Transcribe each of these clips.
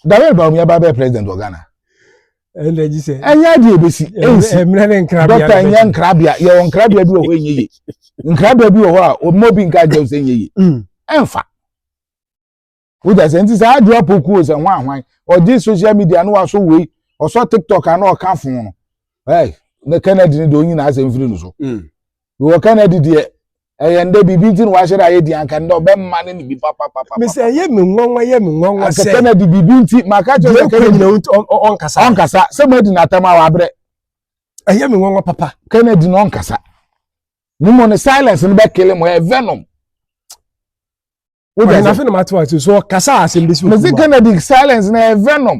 dawel ba omi aba bɛyɛ president wɔ ghana ɛnna gyi sɛ ɛnyɛ adeɛ ebesi ɛnsi ɛmira ne nkrabea dɔkta ɛnyɛ nkrabea yɛ wɔ nkrabea bi wɔ hɔ ɛnyɛ yie nkrabea bi wɔ hɔ a ɔmo bi nka adeɛ sɛ ɛnyɛ yie mm. ɛnfa wogya sɛ nti saa adeɛ apoku o sɛ ho ahwan ɔgye social media no waso wei ɔsɔ tiktok ano ɔka fon no ɛɛ ne kennedy ne deɛ onyina asɛm firi no so mm. wɔ kennedy deɛ ɛyɛ ndɛ biribi nti na wahyɛ dɛ ayɛ di anka ndɛ ɔbɛma ne ne bi papapapa. mesɛ ɛyɛ me nwanwa ɛyɛ me nwanwa sɛ anka kennedy biribi nti maka kyerɛ sɛ kennedy ɔnkasa ɔnkasa sɛ mo adi n'atam a wabrɛ ɛyɛ me nwanwa papa kennedy na ɔnkasa ne mu ne silence no bɛkele mo ɛyɛ venom wọ́n yẹn n'afẹ́ na ma ti wá ti so kasa asem bi si o. mesi kennedy silence na ẹ venom.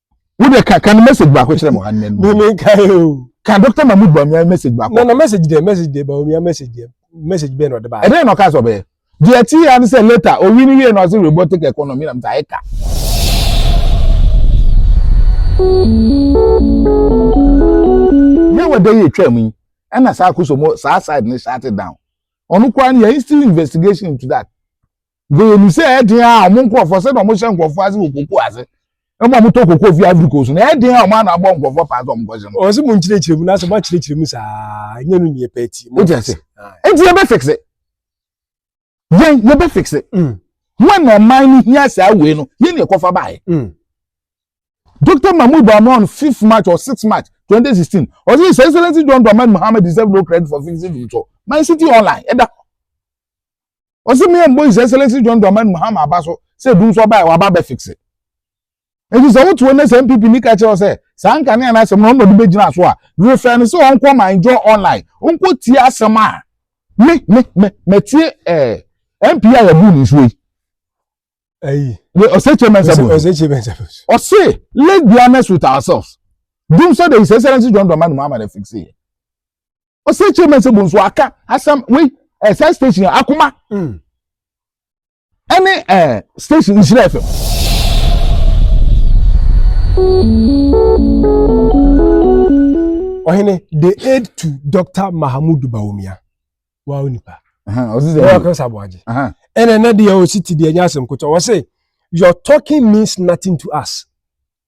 wo de ka ka no message baako kyerɛ mo ha nnɛ no me ka e o ka dr mahmood bawumia message baako na na message de message de bawumia message de message bɛn na ɔde baa ɛdɛn na ɔka sɛ ɔbɛyɛ deɛ ɛte yɛ ano sɛ later owi no wie na ɔse robotic economy na mta ɛka yɛ wɔ dɛ yɛ twam yi ɛna saa akoso mo saa side no shut it down ɔno koraa no yɛ still investigation into that Because ɔnim sɛ ɛyɛ den a wɔn nkurɔfoɔ sɛdeɛ wɔhyɛ nkurɔfoɔ ase wɔ koko ase ɛmu a wɔtɔ koko fi Ivory Coast no ɛyɛ den a wɔn ano abɔ nkurɔfoɔ paa sɛ wɔnkɔgye no. Ɔsɛ mo nkyerɛkyerɛ mu na sɛ mo akyerɛkyerɛ mu saa nyɛ no neɛ pɛ ti. Wote ase? Nti yɛbɛ fixe. Yɛn yɛbɛ fixe. Mm. Wɔn na ɔman no hia saa wei no yɛn na ɛkɔfa baayɛ. Mm. Dr. Mahmoud Bawumia on 5th March or 6th March 2016 ɔsɛ His Excellency John Dramani Mohammed deserve no credit for fixing the so. My City Online ɛda ɔsɛ me mbɔ his excellency john dramani mahama aba so sɛ dum so ɔbaa waba bɛ fixe nti sɛ wote wo ne sɛ npp ni ka kyerɛ sɛ saa nkanea no asɛm no ɔma de bɛgyina so a refɛ no sɛ ɔnkɔ ma enjoy online ɔnkɔ tie asɛm a me me me matie ɛɛ eh, mp a yɛbu ne nsuo yi ayi ɔsɛ kye mɛnsa bu ɔsɛ kye mɛnsa bu ɔsɛ let's be honest with ourselves dum so de his excellency john dramani mahama de fixe ɔsɛ kyerɛ mɛ sɛ bonso aka asɛm wei ɛɛ saa station akoma ɛne mm. ɛɛ station nhyira fm. ɔhene the aid to dr mahamud bawumia wa o nipa ɔyɛ ɔkɛ sabo agye ɛna ɛna deɛ ɔsi ti deɛ ɛnyɛ asɛm kotɔ ɔsɛ your talking means nothing to us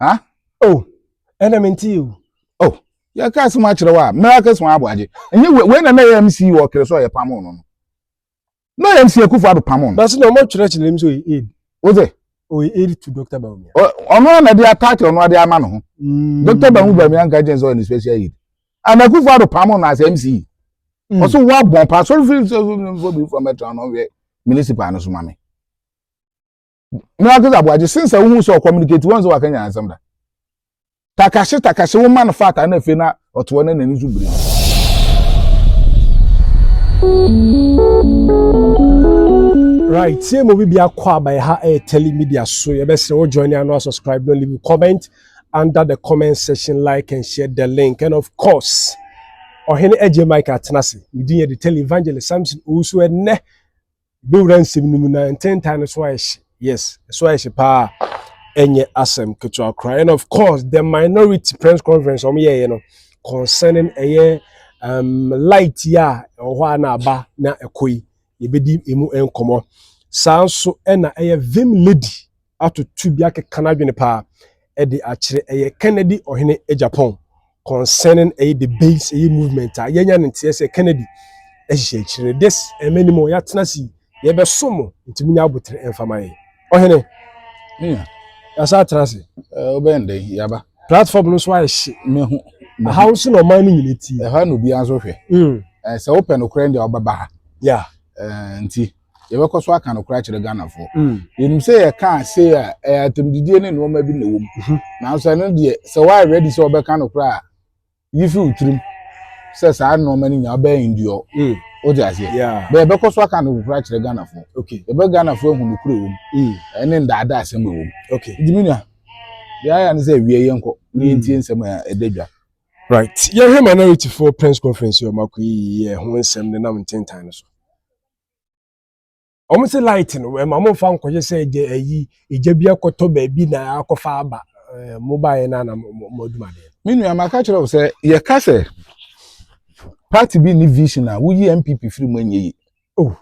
ha oh ɛna me nti o oh yɛ kaa sɛ mo akyerɛ wa miracle sɔn abo agye ɛnyɛ wei wei na na yɛ mc wɔ kere so yɛ pam no no na yɛ mc akufo ado pam no na so na ɔmo kyerɛ kyerɛ mu so yɛ aid o de o yɛ aid to doctor baumia ɔno na de attack ɔno ade ama no ho mm. doctor baumia nka gyɛn sɛ ɔyɛ ne special aid ana akufo ado pam no as mc ɔso mm. wa bɔn pa so fi so so bi fɔ mɛtɔn no wɛ municipal no so ma mi. na wakasa aboa gye since a wohu sɛ ɔcommunicate wɔn sɛ wakanya asɛm da takahye takahye woma no fata na afei na ɔtoɔ na n'ani so biri right tie mu biribi akɔ aba yɛ ha ɛyɛ tele media so yɛbɛsrɛ wo join ano subscribe no leave comment under the comment section like and share the link and of course ɔhene agye mike atena ase medin yɛ de tele evangelist samson owusu ɛnnɛ Bɛwura nsɛm no mu na ntentan no so ayɛ hye. Yes, so ayɛ hye paa. Ɛnyɛ asɛm ketewa koraa. And of course, the minority press conference wɔn yɛɛyɛ no concerning ɛyɛ um, light yi a ɛwɔ hɔ a na aba na ɛkɔ yi, yɛbɛdi emu nkɔmmɔ. Saa nso ɛna ɛyɛ Vim Lady atoto bi akeka n'adwene paa de akyerɛ. Ɛyɛ Kennedy Ɔhene Agyapong concerning ɛyɛ debates ɛyɛ movement a yɛanya ne nteɛ sɛ Kennedy ahyehyɛ akyiri no. This ɛmɛ ni mu yɛatena ase yi yɛbɛso mo nti munya abotire ɛmfa ma yɛn. Ɔhene. Mia. Yɛasa atena ase. Ɛɛ wobɛn dɛn yaba. Platform no nso ayɛ hye. Mehu. Aha nso na ɔman no nyina ti. Ɛha na obiara nso hwɛ. Mm. Ɛɛ sɛ wopɛ nokorɛ deɛ ɔbɛba ha. Yeah. Ɛɛ nti yɛbɛkɔ so aka nokora akyerɛ ghanafoɔ mm. yɛnim sɛ yɛka sei a ɛyɛ atɛmdidie ne nnoɔma bi na ɛwɔ mu mhm. nanso ɛno deɛ sɛ woayɛ ready sɛ wɔbɛka nokora a yi fi wo tirim sɛ saa nnoɔma no nyinaa wobɛyɛ nduɔ mm. wode aseɛ bɛ yɛbɛkɔ so aka nokora akyerɛ ghanafoɔ yɛbɛ ghanafoɔ ahu nokora ɛwɔ mu mm. ɛne ndaada asɛm ɛwɔ mu nti me nua deɛ ayɛ ne sɛ awie yɛnkɔ ne yɛntie nsɛm a ɛda dwa right yɛhwɛ minority foɔ press conference ɔmako yi yɛ ho nsɛm nenam ntentan no so wɔn se light no ɛma wɔn fa nkɔyɛ sɛ ɛgya ɛyi ɛgya bi akɔtɔ baabi na akɔfa aba ɛɛ mo baayɛ na na mo adwuma deɛ. me nua maka kyerɛ wo sɛ yɛka sɛ party bi ne vision a woyi npp firi mu ɛnyɛ yi oh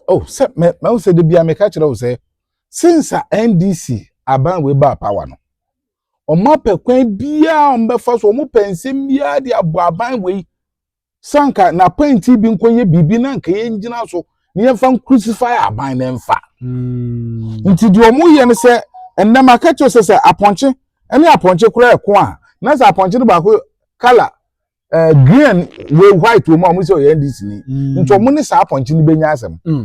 oh sɛ mɛ mɛ sɛ de bia meka kyerɛ wo sɛ since a ndc aban wei baa power no wɔn apɛ kwan biara wɔn bɛfa so wɔn pɛ nsɛm biara de abɔ aban wei sɛ anka n'apɛnti bi nkɔyɛ biribi na anka yɛngyina so na yɛmfa nkrusifae aban no mfa hmm. nti deɛ ɔmoyɛ no sɛ ɛnnɛ maka kyerɛ sɛ sɛ apɔnkye ne apɔnkye kora ɛko a na sɛ apɔnkye no baako kala eh, green wei white wɔ mu a ɔmo sɛ ɔyɛ ndc ni hmm. nti ɔmo ne saa apɔnkye no bɛnya asɛm hmm.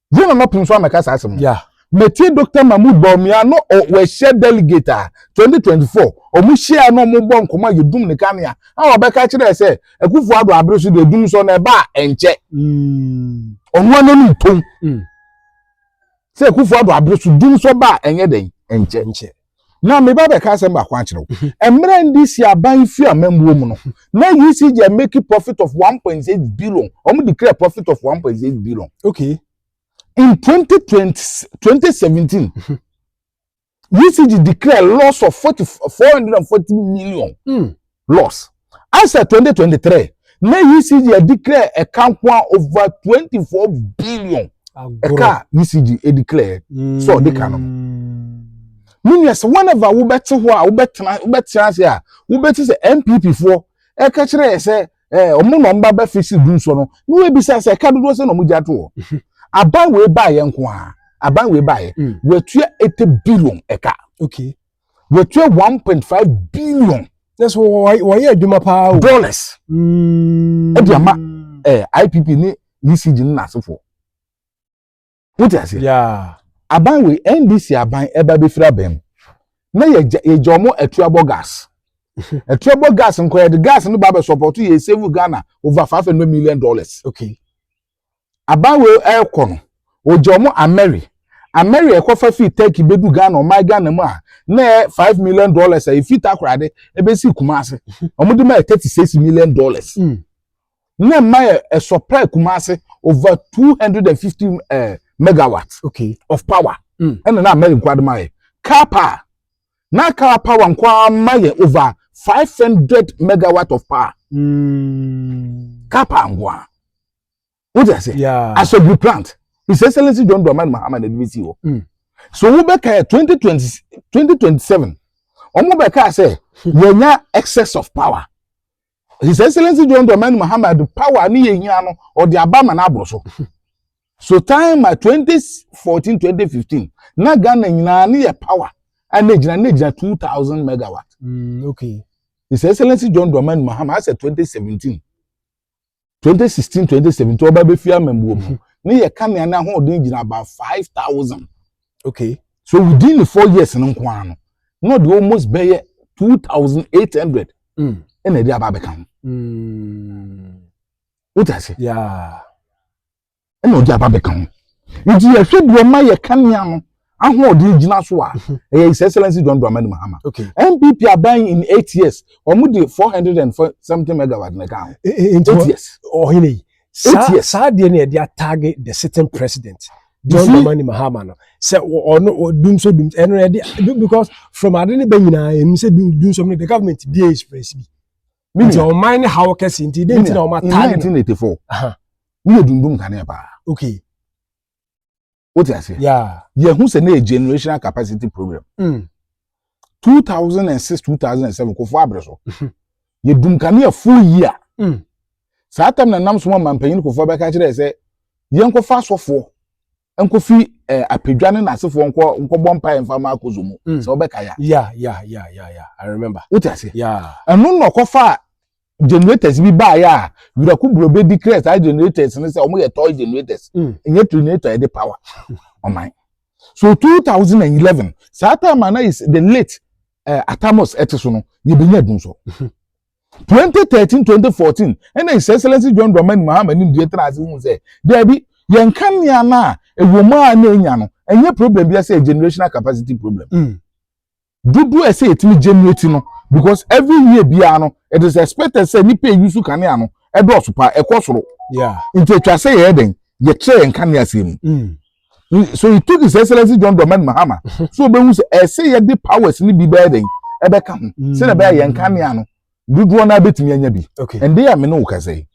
Yɛn nana pii nso amɛka saa asɛm. Yeah. Mɛtie Dr. Mahmoud Bawumia no wɔahyia delegate a 2024 wɔn hyia na wɔn bɔ nkɔmɔ a yɛdum ne kanea a wɔbɛka kyerɛ sɛ Akufo Addo abere so deɛ dum so na ɛba a ɛnkyɛ. Mm. Ɔno ano no ntom. Mm. Sɛ Akufo Addo abere so dum so ba a ɛnyɛ dɛn ɛnkyɛ. na meba bɛka asɛm baako akyerɛ wo mhm. mmerɛ ndc aban fi amammuo mu no mhm. na UCG make profit of 1.6 billion wɔn declare profit of 1.6 billion okay in 2020, 2017 UCG declare loss of 40, 440 million mm. Loss. As at twenty twenty three, na ECG declare ɛka nko a over twenty four billion ɛka a ECG declare sɛ ɔde ka no. Meaning mm. sɛ whenever wobɛte hɔ a wobɛtena wobɛtena ase a wobɛti sɛ NPP foɔ ɛka kyerɛ yɛ sɛ ɛɛ ɔmo na ɔmo ba bɛ fisi du nsɔ no na wɔabisa sɛ ɛka dodoɔ sɛ na ɔmo gya to hɔ. Mhm. Aban wei baayɛ nko a aban wei baayɛ mm. wɔatua eighty billion ɛka. Okay. wɔtua one point five billion. na so wɔyɛ adwuma paa o. dollars mm. ɛde ama ɛɛ eh, ipp ne ecg ne n'asefoɔ wote ase. aban wei ndc aban ɛba e bɛfiri abɛn mu na yɛgya yɛgya wɔn atuabɔ gas atuabɔ gas nkɔ yɛde gas no ba abɛsɔpɔto yɛ save ghana over five hundred million dollars. okay. abawee ɛɛkɔ no ɔgye ɔmo amɛre amɛre ɛkɔfa firi turkey bɛdu ghana ɔman ghana mu a na ɛyɛ five million dollars a ɛfiri takorade ɛbɛsi kumase ɔmo de ma yɛ thirty six million dollars mm. na ɛma yɛ ɛsɔpra kumase over two hundred and fifty eh, megawatt okay. of power mm. ɛna na amɛre nkwa de ma yɛ car power na car power nko ara ma yɛ over five hundred megawatt of power mm. car power nko ara o ti ase asogbu plant his excellence john dramani mahama na ebi si hɔ mm. so wo bɛ ka yɛ twenty twenty twenty twenty seven wɔn bɛ ka sɛ yɛn nya excess of power. His Excellency John Dramani Mahama de power a ne yɛ hia no ɔde aba ma n'aboro so. So time ma 2014 2015 na Ghana nyinaa ne yɛ power a na egyina na egyina 2000 megawatt. Mm, okay. His Excellency John Dramani Mahama asɛ 2017. 2016 2017 ɔba bɛfie amammuo mu ne yɛ kanea no ahoɔden gyina about 5000 okay so within the four years no nko ara no na ɔde almost bɛyɛ 2800 mm. ɛna ɛde aba abɛka ho mm. wote ase ɛna ɔde aba bɛka ho nti yɛhwɛ deɛ ɔma yɛ kanea no ahoɔden gyina so a mhm. ɛyɛ his excellence john dramani mahama okay. npp aban in eight years wɔn de four hundred and seventy megawatt na ɛka ho e, e, e, eight years ɔhene yi saa saa deɛ no yɛde atage the sitting president john dramani mahama no sɛ ɔno dum so dum ɛno yɛde because from ade ne bɛ nyinaa ɛnu sɛ dum dum so no the government bi yɛ express bi. nti ɔman ne haw kɛse nti dɛn nti na ɔma taa ne no. in 1984 woyɛ dundum kanea paa. okay. wote aseɛ. yeah. yɛhu sɛ ne yɛ generational capacity program. Mm. 2006 2007 kofoɔ abere so mhm. yɛdum kanea full year. Mm. saa tam na nam so ma mpanyin kofoɔ bɛka kyerɛ sɛ yɛnkɔfa asɔfoɔ nkofi eh, apadwa ne n'asefoɔ nkɔ nkɔbɔ mpae mfa ma akozo mu mm. sɛ wɔbɛka ya. ya ya ya ya ya i remember. wote ase. ya ɛno na ɔkɔfa generators bi baayɛ a wiraku buro bɛ di kira saa generators ne sɛ wɔn yɛ toy generators mm. nye generator yɛ de power ɔman so two thousand and eleven saa time ana is the late uh, eh, atamos ɛte so no yɛ bɛ nya dun so. Twenty thirteen, twenty fourteen, ɛna His Excellency John Dramani Mahama nimdeɛ tena ase hu sɛ, daabi, yɛn kanea no a ɛwɔ mu a na enya no, ɛnyɛ problem bia sɛ generational capacity problem. Mm. Dodoɔ ɛsɛ yɛtumi generate no, because every year biara no, it is expected sɛ nipa eyi so kanea no ɛdɔɔso paa, ɛkɔ soro. Yeah. Nti atwa sɛ yɛyɛ dɛn, yɛkyerɛ yɛn kanea aseɛ mu. Mm. so he took his excellence john dramani mahama mhm. so obehu sɛ ɛsɛ yɛ de powers ni bi bɛyɛ dɛn ɛbɛka ho mm. sɛnɛ bɛyɛ yɛn kanea no dodoɔ naa betumi anya bi ɛnde yɛ amene wo kasa yi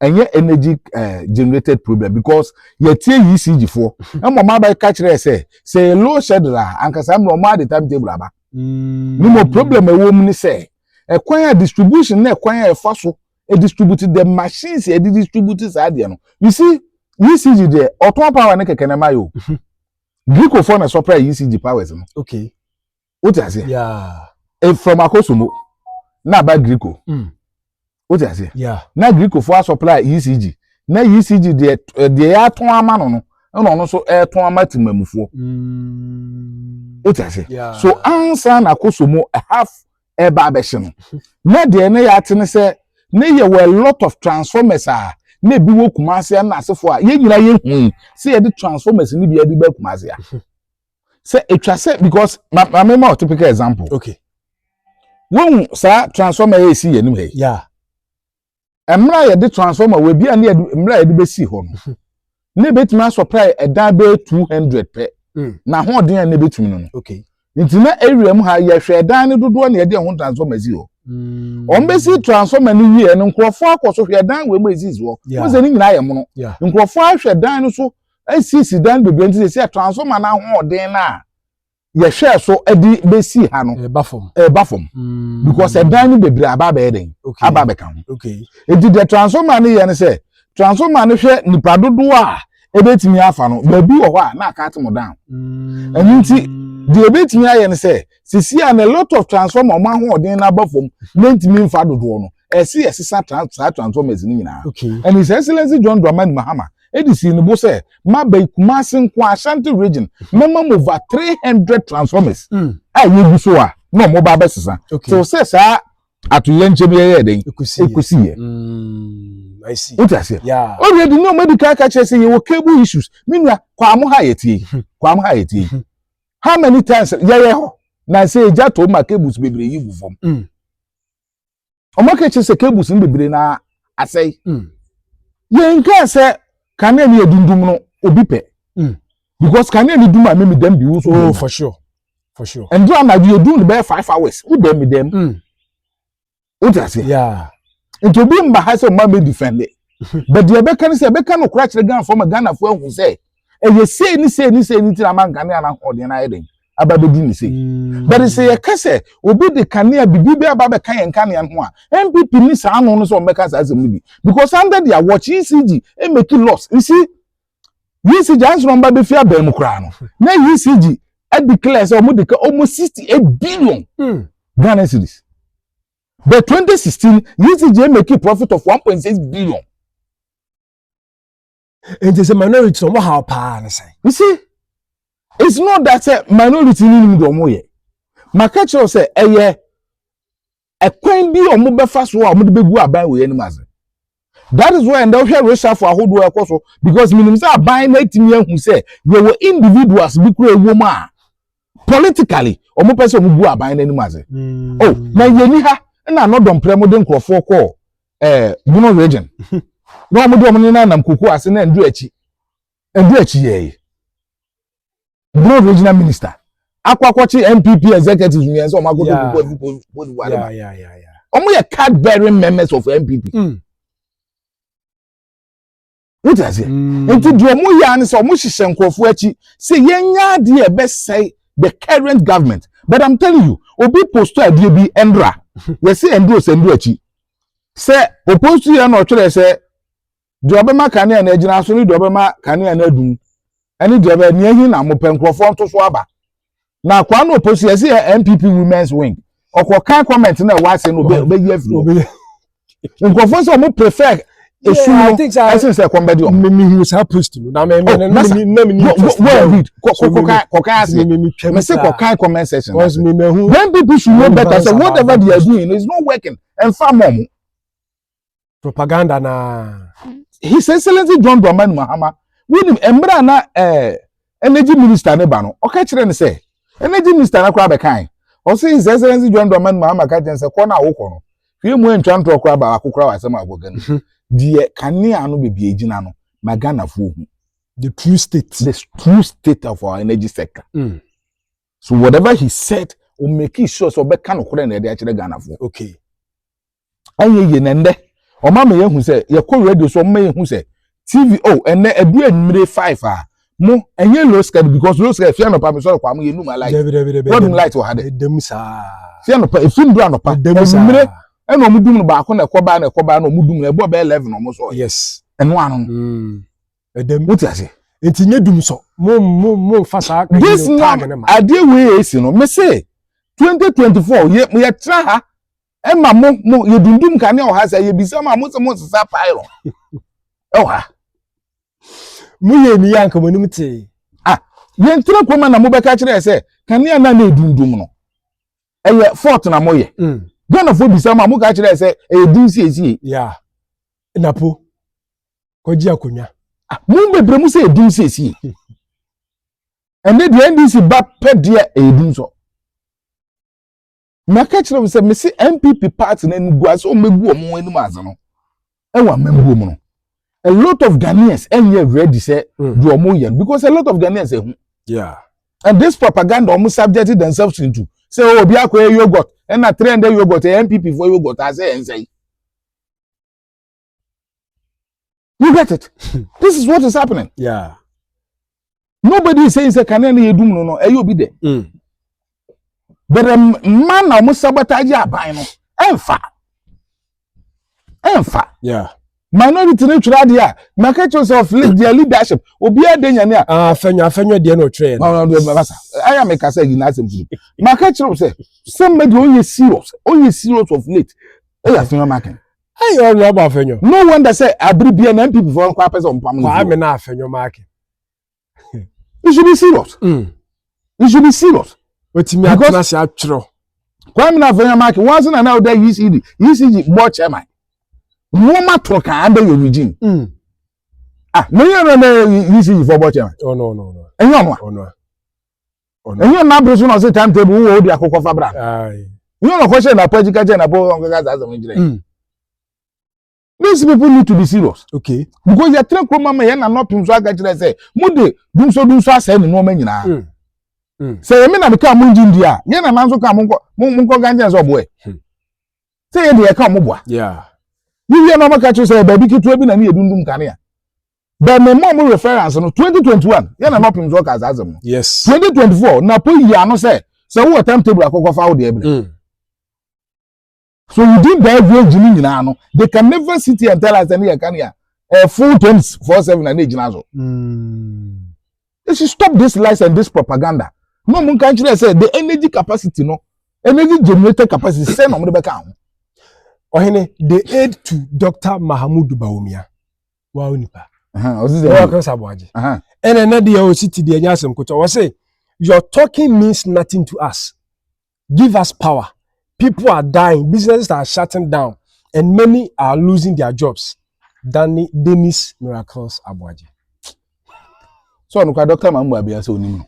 ɛnyɛ energy uh, generated problem because yɛtie yi si gyifoɔ ɛmɔ ɔmo aba ka kyerɛ sɛ sɛ low shed la ankasa mmerɛ ɔmo adi time table aba ne mm. mo problem ɛwɔ mu ne sɛ ɛkwan a distribution na ɛkwan a ɛfa so distribute the machines yɛ de distribute saa adeɛ no you see ECG deɛ ɔtɔn power ne kɛkɛ na ɛma yɛ o mhm. Greco fɔ na sɔpra ECG powers no okay o ti ase yeah e from akosomo na aba Greco mm. o ti ase yeah na Greco fɔ asɔpra ECG na ECG deɛ eh, deɛ yɛ atɔn ama no no ɛna ɔno nso ɛtɔn ama tìmɛmufoɔ mm. o ti ase so ansa na akosomo half ɛba abɛhyɛ no na deɛ ne yɛate ne sɛ ne yɛwɔ a lot of transformers a na ebi wɔ kumase a na asefo a yɛn nyinaa yɛ hui sɛ yɛde transformers no bi yɛde bɛ kumase a sɛ etwa sɛ because ma ma me ma typical example okay wɔn saa transformer yɛ esi yɛn anim ha yi yeah. mmerɛ a yɛde transformer wɔ ebi a ne yɛde mmerɛ a yɛde bɛsi hɔ no hmm. ne bɛtumi asɔprai ɛdan bɛyɛ two hundred pɛ hmm. na ahoɔden a ne bɛtumi no no nti na area mu ha yɛhwɛ ɛdan no dodoɔ na yɛde ɛho transformer si hɔ hmm. wɔn bɛsi transformer no wie no nkurɔfoɔ akɔ so hwɛ ɛdan wɔ mu esisi hɔ wɔn sɛ ne nyinaa yɛ mono nkurɔfoɔ ahwɛ dan no so esisi dan bebree nti sɛ transformer no ahoɔden no a yɛhwɛɛ so de bɛsii ha no ɛba fam ɛba fam mm. because ɛdan no bebree aba abɛyɛ den aba abɛka ho nti deɛ transformer no yɛ no sɛ transformer no hwɛ nipa dodoɔ a ɛbɛtumi afa no baabi wɔ hɔ a na aka ate mo down mm. ɛno nti deɛ ɛbɛtumi ayɛ no sɛ sisi a na lot of transformer ɔmo ahoɔden no aba fam na ntumi nfa dodoɔ no ɛsi ɛsesa saa transformers no nyinaa ɛne sɛ excellence john dramani mahama de sii ne bo sɛ, Maba yi, Kumasi nko ara, Ashanti region, mɛma mo over 300 transformers mm. a yɛgu so a na wɔn ba abɛsesa. Te wo sɛ saa atoyɛ nkyɛn bi yɛyɛ dɛn? Ɛkusi yɛ. Wote aseɛ? Ɔreɛ de nneɛma di kan ka kyerɛ sɛ yɛwɔ cable issues. Me nua, kwaamo ha yɛ tie. Hmm. Kwaamo ha yɛ tie. Hmm. How many times yɛyɛ hɔ? Na sɛ ɛgya tɔ mu a cables bebree yi gu fam. Hmm. ɔmo aka kyerɛ sɛ cables no bebree na asɛe mm. yɛn kaa sɛ kanea ni edundum no obi pɛ mm. because kanea ni dum a mi mi dɛm bi wusu. oh for sure for sure. ɛndu anadu yɛ dum no bɛyɛ five hours wo dɛm mi dɛm o ti ase nti obi mba ha sɛ ɔma mi defend de but deɛ ɛbɛka ne sɛ ɛbɛka no kora kyerɛ ghana fɔ ma ghana fo ahu sɛ ɛyɛ sei ne sei ne sei ne ti na ama nkanea na ahoɔden na ayɛ den aba bɛdi ne sei mm. but sɛ yɛka sɛ obi de kanea bibi bɛ aba bɛka yɛn kanea ho a npp ne saa ano no sɛ ɔmbɛka saa asɛm no bi because under their watch ecg make loss you see ecg anso na ɔmba bɛfi abɛn mu koraa no na ecg adeclare sɛ ɔmo de ka ɔmo sixty eight billion mm. ghana cedis but twenty sixteen ecg make profit of one point six billion. nti sɛ minority ɔmo haw paa ne sɛ. you see it's not that sɛ minority ni nim deɛ ɔmo yɛ maka kyerɛw sɛ ɛyɛ ɛkwan bi a ɔmo bɛfa so a ɔmo de bɛgu aban wɔ yɛn anim ase that is why ɛnda wohwɛ resafo ahodoɔ ɛkɔ so because menim sɛ aban no atumi ahu sɛ yɛwɔ individuals bi kura ɛwɔ mu a politically ɔmo pɛ sɛ ɔmo gu aban no anim ase mm. oh na yɛni ha ɛna anɔdɔmprɛ mo de nkurɔfoɔ kɔɔ eh, Bono region. Na wɔn de wɔn nena nam koko ase na ndu akyi. Ndu akyi yɛ yi. Bono regional minister. Akɔ akɔkye NPP executives nyɛ sɛ wɔn akɔtɔ koko afi Cote d'Ivoire ba. Wɔn yɛ card bearing members of NPP. Mm. wote aseɛ mm. nti deɛ ɔmo yɛ ano sɛ ɔmo hyehyɛ nkurɔfoɔ akyi sɛ yɛnya adeɛ ɛbɛsɛe the current government but i'm telling you obi posto adeɛ bi ɛndra yɛsɛ ɛnduro sɛ ɛnduro akyi sɛ oposto yɛ na ɔtwerɛ sɛ deɛ ɔbɛma kanea na agyina so ne deɛ ɔbɛma kanea na adum ɛne deɛ ɔbɛ nea ehi na mo pɛ nkurɔfoɔ nto so aba na kwano oposi yɛ si yɛ npp women's wing ɔkɔ kan comment na ɛwɔ ase no ɔbɛyi afiri hɔ nkurɔfoɔ sɛ ɔmo prefer esu no ɛsen sɛ ɛkɔm bɛdi ɔmo. mi hu saa post no na mi mi na mi na mi ni interest na mi kɔkan kɔkan ase mi se kɔkan comment section na se when people should know better say whatever they are doing is not working ɛnfa mɔ ɔmo. propaganda naa. his excellency john dramani mahama wonim mmerɛ a na eh, energy minister ne ba no ɔka kyerɛ no sɛ energy minister no koraa bɛkae ɔse his excellency john dramani mahama ka kyerɛ no sɛ kɔ no a wokɔ no hwɛ mu antwa ntorɔ koraa baako koraa wɔ asɛm a wɔka no mhm. deɛ kanea no baabi agyina no ma ghanafoɔ hu the true state the true state of our energy sector mm. so whatever he said o make sure sɛ ɔbɛka no korɛ na ɛde akyerɛ ghanafoɔ okay ɛnyɛ yie na ɛndɛ wɔn ama yɛn hu sɛ yɛkɔ radio so wɔn ama yɛn hu sɛ tv oh ɛnɛ ɛdu enyimire five a mo ɛnyɛ low scale because low scale fia nɔpa mi sɔrɔ kɔ amu yɛ num alight wɔdum light wɔ ha dɛ ɛdɛm saa fia nɔpa efi ndu anɔpa enyimire ɛna wɔn dum no baako na ɛkɔ baa na ɛkɔ baa na wɔn dum no ɛbɔ bɛɛ eleven wɔn sɔ yes ɛno ano mm. ɛdɛm wote ase nti nye dum sɔ mo mo mo nfa saa this na adeɛ wei yɛ esi no me se twenty twenty four yɛ yɛ tra ha. ɛma mo mo yɛdundum kanea wɔ ha sɛ yɛbisa ma mo sɛ monsesa pylon ɛwɔ ha moyɛ ni yɛ anka mo anim tee ah yɛntena kurom na mobɛka kyerɛ sɛ kanea na na ɛdundum no ɛyɛ fort na moyɛ mm. ghanafoɔ bisa ma moka kyerɛ sɛ ɛyɛ din siesie yeah. napo kɔgye akonnwa ah, mo bebrɛ mu sɛ ɛdin siesie ɛnɛ deɛ ndc ba pɛ deɛ ɛyɛ dum so maka kyerɛ wo sɛ mese npp party no animguase wɔn bɛgu wɔn anim adze no ɛwɔ amambuo mu no a lot of ghanaians ɛnyɛ ready sɛ mm. deɛ wɔn yɛ no because a lot of ghanaians ɛho yeah. and this propaganda wɔn subject themselves into sɛ oh, obi akɔyɛ yogurt ɛna three hundred yogurt ɛyɛ npp for yogurt asɛ ɛnsɛ yi You get it? This is what is happening. Yeah. Nobody is saying say kanea na yedum no no ɛyɛ obi dɛ. Mm. But um, mma na wɔn sabotage aban no ɛnfa ɛnfa. Yeah. Minority no twere adeɛ a marketers of their leadership obiara de nyane a. Ah, afɛnyɛ afɛnyɛ deɛ na ɔtwerɛ yɛn. Ɔn ɔn basa ɛyà mi kasa yi n'asɛm tutu. Marketers sɛ sɛ mbɛ deɛ ɔyɛ serious ɔyɛ serious of late ɛyà afɛnyɛ market. Hey, ọnụ ọbụ afenyo. No wonder sɛ abiri bia na NPP fo nkwa apɛ sɛ ɔmpam no. Kwame na afenyo maake. You should be serious. Mm. You should be serious. Wetumi atena ase atwerɛ. Kwame na afenyo maake. Wɔn ase na na ɔda ECD. ECD bɔ chairman. Wɔn ma toro kan under your regime. Mm. Ah, mo yɛ no na ECD fo bɔ chairman. Oh no no no. Ɛnyɛ ɔno a. Ɔno a. ɛnyɛ nna bere so na ɔse time table wowɔ wode akokɔ fa bra no nyɛ ɔnɔkɔ hyɛ napɔ akyi ka kyɛ napɔ ɔnkɛka saa asɛm no kyerɛ mm. these people need to be serious okay because yɛtena kurom ama yɛn nanɔpem so aka kyerɛ sɛ mode dumso dumso asɛe ne nnoɔma nyinaa mm. mm. sɛ yɛme na meka mo ngye ndi a yɛn nana nso ka monkɔ gankyɛn sɛ ɔboɛ hmm. sɛ yɛde yɛka ɔmoboa yewie na ɔmaka kyerɛ sɛ baabi ketewa bi na ne yɛdundum kanea bɛn mɛ mɔ mo reference no twenty twenty one yɛn na nɔpem so ɔka saa asɛm no yes twenty twenty four na po yi ano sɛ sɛ wowɔ time table akɔkɔ fa wo deɛ brɛ mm. so within that range ni nyinaa no they can never sit here and tell us ɛne yɛ kan yɛ a full twenty four seven na ne gyina so mm. they should stop this lies and this propaganda na ɔmo nka nkyerɛ sɛ the energy capacity no energy generator capacity sɛ na ɔmo de bɛka ho. ɔhene they aid to dr mahamudu bawumia. wa o nipa ɛyɛ ɔkasa aboagye ɛna ɛna deɛ ɔsi ti deɛ ɛnyɛ asɛm kotɔ ɔse your talking means nothing to us give us power people are dying businesses are shutting down and many are losing their jobs Danny Dennis miracles aboagye. so ɔno kora dɔkta mambo abia sɛ onim no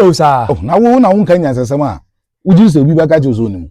o saa na wo na wo nka nyansasɛm a wogye sɛ obi bɛka kyerɛ sɛ onim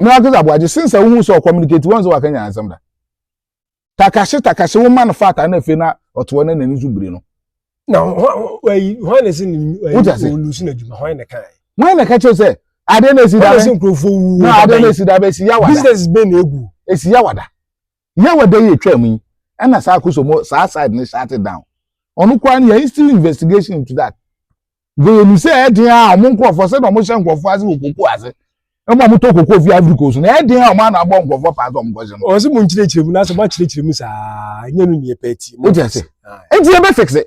na wakasa aboagye since a wohu sɛ ɔcommunicate wɔn sɛ waka nyina nsɛm da takahye takahye wo ma no fata na afei na ɔtoɔ na n'ani so biri no na hwan na ɛsɛ ne ɔlusu no adwuma hwan na kae hwan na ka kyerɛ sɛ adeɛ na ɛsi da bɛ nkurɔfoɔ wu na adeɛ na ɛsi da bɛ ɛsi yawada business bɛ na ɛgu ɛsi yawada yawada yi ɛtwa mu yi ɛna saa akosomo saa side ne shut it down ɔno koraa no yɛ still investigation into that Nka yɛnim sɛ ɛyɛ den a wɔn nkurɔfoɔ sɛdeɛ wɔhyɛ nkurɔfoɔ ase wɔ koko ase ɛma wɔn tɔ koko fi Ivory Coast no ɛyɛ den a wɔn ana abɔ nkurɔfoɔ paa sɛ wɔn kɔhyɛ no. Ɔsɛ mo nkyerɛkyerɛ mu nanso mo akyerɛkyerɛ mu saa nyɛ no nea pɛ ti. Mo ti ase. Eti yɛ bɛ fixe.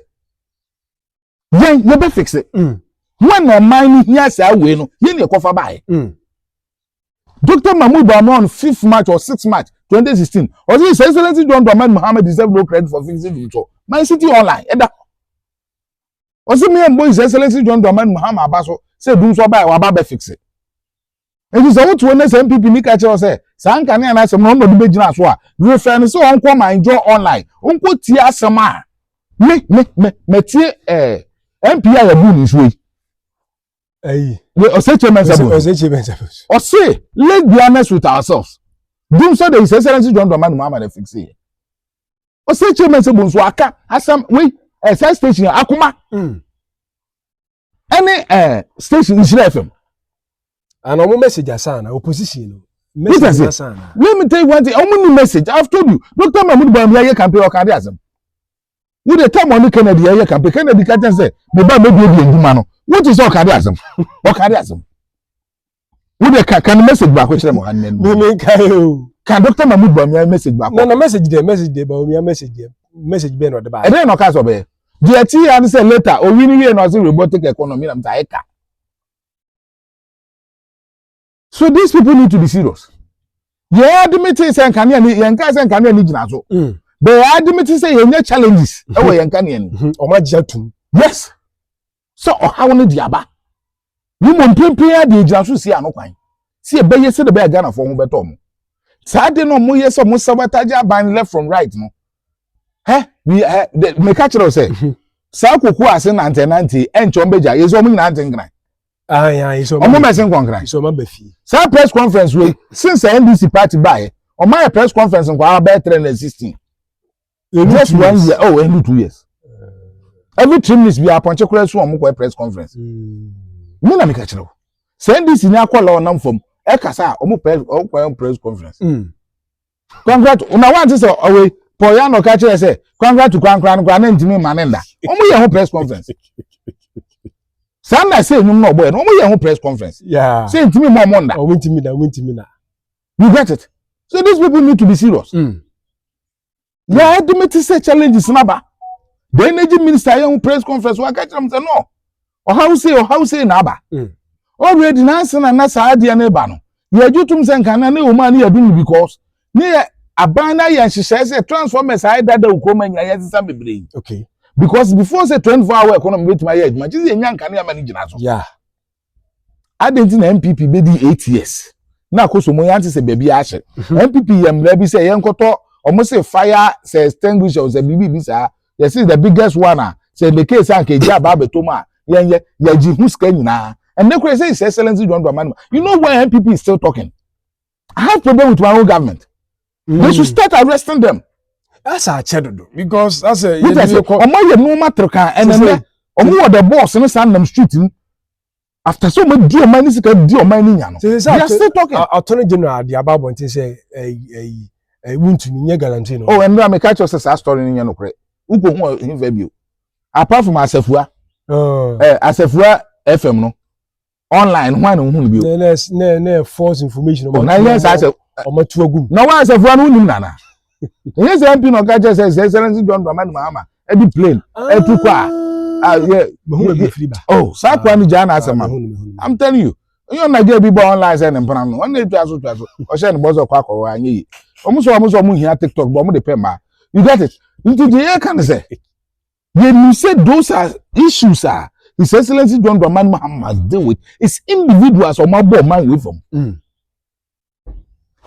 Yɛn yɛ bɛ fixe. Mm. Wɔn na ɔman no hia saa wei no yɛn na ɛkɔfa baayɛ. Mm. Dr. Mahmoud Bawumia on 5th March or 6th March 2016 ɔsɛ His Excellency John Dramani Mohammed deserve no credit for fixing the so. My City Online ɛda. ɔsɛ me ɛmbɔ His Excellency John Dramani Mahama aba so sɛ dum so ɔba a waba bɛ fixe. Nti sɛ wote hɔ na sɛ NPP ni ka kyerɛ sɛ saa nkanea no asɛm no ɔno na ɔde bɛgyina so a, refɛ no sɛ ɔnkɔ ma enjoy online, ɔnkɔ tie asɛm a me me me matie ɛɛ eh, MP a yɛbu ne nsuo yi. Ayi. Ɔsɛ kye mɛnsa bu. Ɔsɛ kye mɛnsa bu. Ɔsɛ let's be honest with ourselves. Dum so de His Excellency John Dramani Mahama na fixe yɛ. ɔsɛ kyerɛ mɛ sɛ bonso aka asɛm wei ɛɛ saa station akoma ɛne mm. ɛɛ station nhyira fm. ana ɔmo message asan na opposition no. message asan na. let me tell you one thing ɔmo ni message i have told you doctor mahmood buhari mi ayɛ campaign ɔka adi asɛm wo de tam ɔne kennedy ayɛ campaign kennedy ka kyɛn sɛ mi ba mi bi ebi edwuma no wo ti sɛ ɔka adi asɛm ɔka adi asɛm. wo de ka ka no message baako kyerɛ mo ha nnɛ no me ka e o ka dr mahmud bawumia message baako na na message de message de bawumia message de message bɛn na ɔde baa ɛdɛn na ɔka sɛ ɔbɛyɛ deɛ ti ya no sɛ later owi no wie na ɔse robotic economy na mta ɛka so these people need to be serious yɛn adimiti sɛ nkanea ni yɛn nka sɛ nkanea ni gyina so mm. bɛyɛ adimiti sɛ yɛn nyɛ challenges ɛwɔ yɛn nkanea ni ɔmo agye atum yes. sɛ ɔhaw no de aba, na mmom mprempren ara de egyina so sie ano kwan sɛ ɛbɛyɛ sɛdeɛ ɛbɛyɛ a Ghanafoɔ ho bɛtɔ wɔn. Saa ade no a wɔyɛ sɛ wɔn sabotage aban left from right no, hɛ, we, hɛ, de, meka kyerɛ wo sɛ, saa koko ase nantenante ɛnkyɛ wɔn bɛgya, yɛ sɛ wɔn nyinaa nte nkran. Wɔn bɛse nkɔnkran. Saa press conference wei, since NDC party baeɛ, wɔn ayɛ press conference nkwaa bɛyɛ 316. ɛnu just one year oh ɛnu two years every three minutes bi apɔnkye kura so wɔn kɔ press conference hmm. mi na mi ka kyerɛ o sɛ ndc ni akɔ lɔɔ nam fam ɛkasa a wɔn press wɔn kɔ press conference hmm. congrat na wɔn ati sɛ ɔwɛ paul yano ka kyerɛ sɛ congrat kwankora no kora ne ntumi ma ne nda wɔn yɛ ho press conference saa na sɛ enyim na ɔbɔ yɛ no wɔn yɛ ho press conference sɛ ntumi mu ɔmo nda. ɔmo ntumi na ɔmo ntumi na. you get it so these people need to be serious. Mm. na ɛde me te sɛ challenges no aba the energy minister yɛ ho press conference waka kyerɛ m sɛ no ɔhaw sei ɔhaw sei na aba mm. already na ase na na saa adeɛ no ba no yɛgye tom sɛ nka na ne ɔma no yɛdom no because ne yɛ aban no ayɛ nhyehyɛe sɛ transformers ayɛ dada okurom anya yɛ sesa bebree okay because before sɛ 24 hour economy betumi ayɛ adwuma gye sɛ yɛnya nkanea ma no gyina so yeah adɛn nti na npp bɛdi eight years na akosomo yɛante sɛ baabi ahyɛ npp mhm. yɛ mmara bi sɛ yɛnkɔtɔ wɔn se fire sɛ extinguisher sɛ biribi bi saa yɛsi the biggest one a sɛ the case a nka egya aba abɛtɔ mu a yɛn yɛ yɛgye ho sika nyinaa ɛnɛ kura sɛ his excellence john dramani you know why npp is still talking I have problem with my own government. Mm. They should mm. start arresting them. That's our cheddar because that's a. Wait a second. Ọmọ yẹ nu ọmọ tẹ̀rẹ̀ kan ẹnẹ nẹ ọmọ wọ the boss ní sàn nam street ni after so ọmọ di ọmọ ẹni sika di ọmọ ẹni yàn no. They are still talking. Attorney General di aba abọ ntin sẹ ẹyi ẹyi ẹyi wuntumi nye guarantee no. Oh ẹnu àmì káàkiri ọsẹ saa story ni yẹn no korẹ ukò hu ọhin fẹ bi o apart from asafua ẹ asafua fm no online ho a na ohun bi o. na na na false information ɔmo na yɛ saa sɛ ɔmo atu agum. na wɔn asafo ano nim nana ɛyɛ sɛ mpi na ɔka kyerɛ sɛ sɛ sɛ nsi john dramani mahama ɛdi plane ɛtu kɔ a a yɛ oh saa kwan mi gyaa na asɛm ma i'm telling you onye ɔna gye bi bɔ online sɛ ne mpana no ɔna etwa so twa so ɔhyɛ ne bɔ sɛ ɔkɔ akɔwɔ anyi yi wɔn sɔ wɔn sɔ wɔn hia tiktok bɔ wɔn de pɛ mmaa you get it nti deɛ yɛ ka ne sɛ. Yɛnim sɛ those are issues a His Excellency John Dramani Mahama must deal with is individuals a wɔabɔ ɔman wei fam. Mm.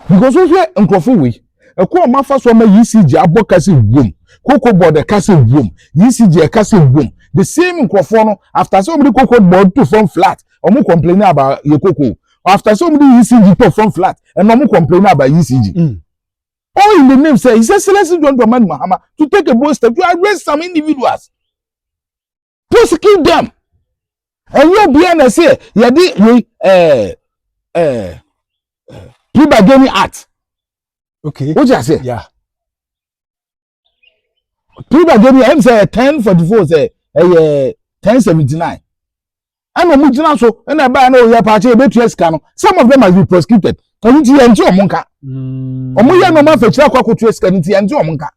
Because wohwɛ nkurɔfo wei, ɛkɔ ɔma fa so ama ECG abɔ ka sɛ wom, cocoa board ɛka sɛ wom, ECG ɛka sɛ wom. The same nkurɔfoɔ no, after sɛ wɔde cocoa board to fam flat, wɔn complain about yɛ cocoa. After sɛ wɔde ECG to fam flat, ɛna wɔn complain about ECG. Mm. All in the name sɛ His Excellency John Dramani Mahama to take a bold step to arrest some individuals, prosecute them. Ɛnyɛ obiara na ɛsɛ yɛde yɛ ɛɛ ɛɛ plea bargaining act. Okay. Wọ́n ti ase. Yeah. three by demi ɛm sɛ ten forty four sɛ ɛyɛ ten seventy nine ɛna ɔmo gyina so ɛna ɛbaa na ɔyɛ paakye ebetua sika no some of them must be prosecuted ɛno ti yɛn ti ɔmo nka hmm. ɔmo yɛ nneɛma afɛkyerɛ akɔ akɔtua sika no ti yɛn ti ɔmo nka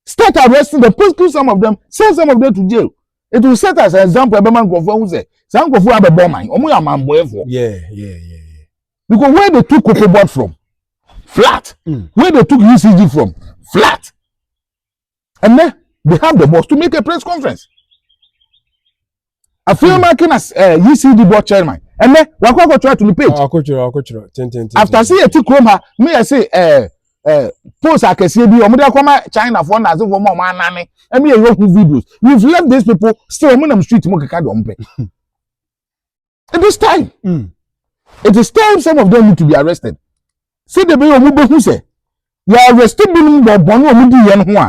start arresting them prosecute some of them send some of them to jail it will set as an example ɛbɛma nkurɔfoɔ ɛho sɛ saa nkurɔfoɔ abɛbɔ ɔman ɔmo yɛ amanbɔɛfoɔ. Yeah, yeah, yeah. because where they took cocoa board from flat mm. where they took UCG from flat and then they have the boss to make a press conference afei ɔno ake na UCD board chairman ɛnɛ wakɔ akɔtwerɛ ato ne page akɔtwerɛ akɔtwerɛ tententen after se yɛte kurom ha ne yɛ se ɛɛ ɛɛ post akɛseɛ bi wɔn de akɔma China foɔ na asefoɔ mu a wɔn anane ɛmi yɛ yɛ hu videos we have left these people still wɔn nam street mu keka de wɔn pɛ it is time mm. it is time some of them need to be arrested See the way wɔn bɛ hu sɛ yɛ arrest binom wɔ bɔn a wɔn di yɛn ho a